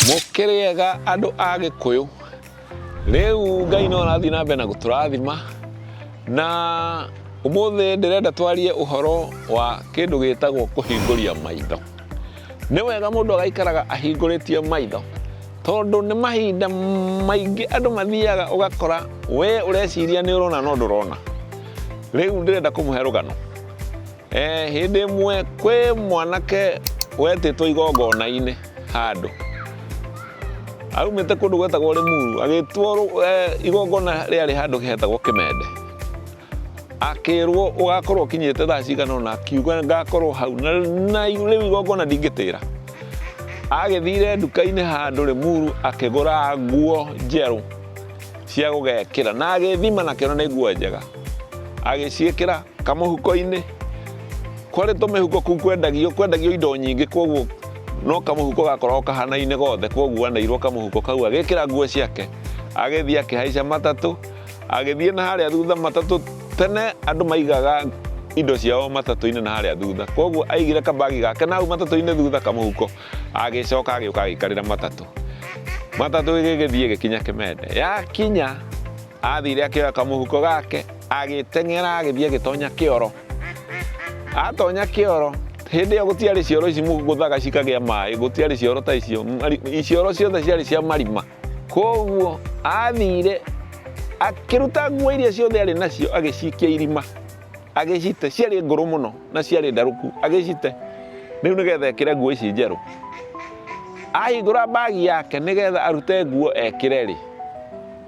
mũkĩrĩega andũ a gĩkũyũ rĩu ngai no arathiĩ na mbere na gũtũrathima na ũmũthĩ ndĩrenda twarie ũhoro wa kĩndũ gĩtagwo kũhingũria maitho Nĩ wega mũndũ agaikaraga ahingũrĩtie maitho tondũ nĩ mahinda maingĩ andũ mathiaga ũgakora we ũreciria nĩ ũrona no ndũrona. Rĩu ndĩrenda kũmũhe rũgano. Eh, hĩndĩ ĩmwe kwĩ mwanake wetĩtwo igongona-inĩ handũ. Aumĩte kũndũ gwetagwo Rĩmuru agĩtwo eh, igongona rĩarĩ handũ hetagwo Kĩmende. Akĩrwo ũgakorwo ũkinyĩte thaa cigana ũna, akiuga ngakorwo hau na na rĩu igongona ndingĩtĩra. Agĩthire nduka-inĩ handũ Rĩmuru akĩgũra nguo njerũ cia gũgekĩra na agĩthima na kĩona nĩ nguo njega. Agĩciĩkĩra kamũhuko-inĩ, kwarĩ tũmĩhuko kũu kwendagio kwendagio indo nyingĩ koguo no kamũhuko gakoragwo kahanaine gothe koguo aneirwo kamũhuko kau agĩkĩra nguo ciake agĩthiĩ akĩhaica matatũ. Agĩthiĩ na harĩa thutha matatũ tene andũ maigaga indo ciao matatũ-inĩ na harĩa thutha koguo aigire kabagi gake na hau matatũ-inĩ thutha kamũhuko agĩcoka agĩũka agĩkarĩra matatũ matatũ ĩgĩgĩthiĩ ĩgĩkinya kĩmende yakinya athire akĩoya kamũhuko gake agĩteng'era agĩthiĩ agĩtonya kĩoro atonya kĩoro hĩndĩ ĩyo gũtiarĩ cioro ici mũgũthaga cikagĩa maĩ gũtiarĩ cioro ta icio cioro ciothe ciarĩ cia marima Kwoguo aathiire akĩruta nguo iria ciothe arĩ nacio agĩcikia irima agĩcite ciarĩ ngũrũ mũno na ciarĩ ndarũku agĩcite rĩu nĩgetha ekĩre nguo ici njerũ ahingũra mbagi yake nĩgetha arute nguo ekĩre rĩ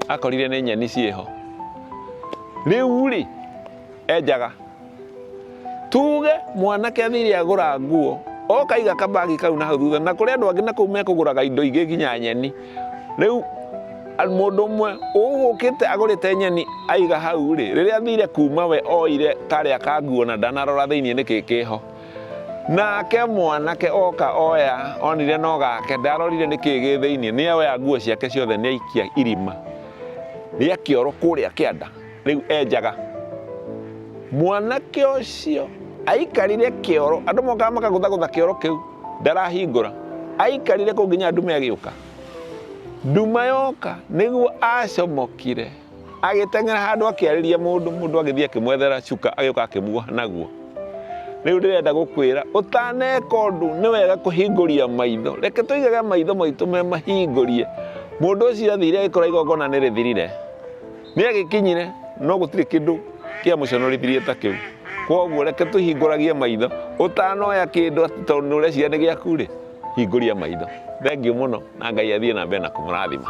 akorire nĩ nyeni ciĩho rĩu rĩ enjaga Tuge mwanake athire agũra nguo, oka aiga kabagi kau na hau thutha, na kũrĩ andũ angĩ na kũu mekũgũraga indo ingĩ nginya nyeni. Rĩu mũndũ ũmwe ũgũkĩte agũrĩte nyeni aiga hau rĩ, rĩrĩa athire kuma we oire karĩa ka nguo na ndanarora thĩinĩ nĩkĩ kĩho. Nake mwanake oka oya onire no gake, ndarorire nĩkĩ gĩ thĩinĩ, nĩoya nguo ciake ciothe nĩaikia irima rĩa kĩoro kũrĩa kĩanda. rĩu enjaga mwanake ũcio aikarire kĩoro andũ mokaga makagũthagũtha kĩoro kĩu ndarahingũra aikarire kũ nginya ndume agĩũka nduma yoka nĩguo acomokire agĩteng'era handũ akĩarĩria mũndũ mũndũ agĩthiĩ akĩmwethera cuka agĩũka akĩmuoha naguo rĩu ndĩrenda gũkwĩra ũtaneka ũndũ nĩ wega kũhingũria maitho reke tũigage maitho maitũ me mahingũrie mũndũ ũcio athire agĩkora igongona nĩ rĩthirire Nĩ agĩkinyire, no gũtirĩ kĩndũ kĩamũconorithirie ta kĩu. Kwoguo reke tũhingũragie maitho. Ũtanoya kĩndũ atĩ tondũ nĩ ũreciria nĩ gĩaku-rĩ, hingũria maitho. Thengiũ mũno, na Ngai athiĩ na mbere na kũmũrathima.